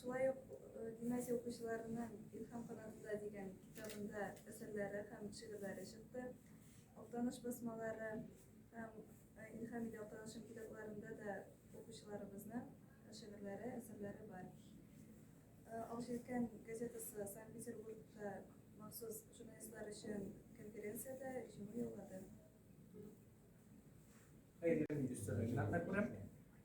Шулай ук гимназия укучыларының Илһам канатында дигән китабында әсәрләре һәм шигырьләре чыкты. Актаныш басмалары һәм Илһам иде Актанышым китапларында да укучыларыбызның шигырьләре, әсәрләре бар. Алҗиркән газетасы Санкт-Петербургта махсус журналистлар өчен конференциядә җиңү яулады.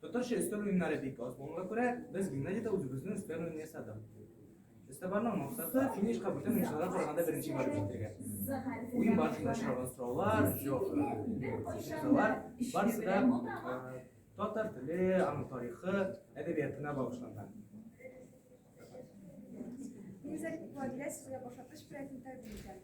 Татарча өстәл уеннары бик аз булуга күрә, без гимназиядә үзебезнең өстәл уенын ясадык. Өстәбарның максаты финишка бүтән уенчыларга караганда беренче барып җитәргә. Уен барышында очраган сораулар, җаваплар, барысы да татар теле, аның тарихы, әдәбиятына багышланган. Низәк, Владимир, башатыш белән интервью итәм.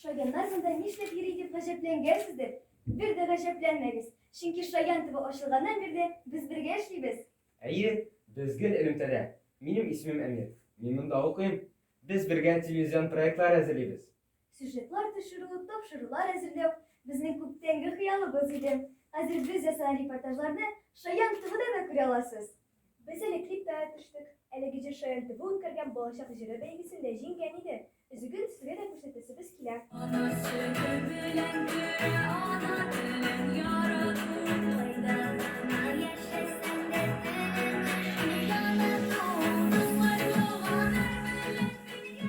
Шаяннар монда нишләп йөри дип гаҗәпләнгәнсездер. Бер дә гаҗәпләнмәгез. Чөнки Шаян төбе ачылганнан бирле без бергә эшлибез. Әйе, без гел элемтәдә. Минем исемем Әмир. Мин монда укыйм. Без бергә телевизион проектлар әзерлибез. Сюжетлар төшерү, тапшырулар әзерләү, безнең күптәнге хыялыбыз иде. Хәзер без ясаган репортажларны Шаян ТВда да күрә аласыз. Без әле клипта төштек. Әлеге җыр Шаян ТВ үткәргән Балачак җыры бәйгесендә җиңгән иде. Өзеген сезгә дә күрсәтәсебез килә. Ана сөте белән бирә, ана телен ярату. Кайда гына яшәсәң дә телең ярату. Дуслар, туганнар белән бергә.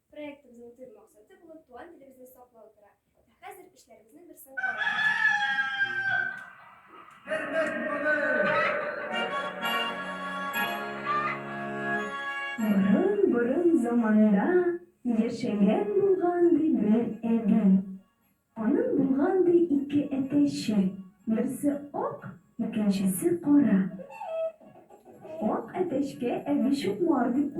Проектыбызның төп максаты булып туган телебезне саклау тора. Ә хәзер эшләребезнең берсен Борын-борын заманда яшәгән булган ди бер әби. Аның булган ди ике әтәче, берсе ак, икенчесе кара. Ак әтәчкә әби Чукмар дип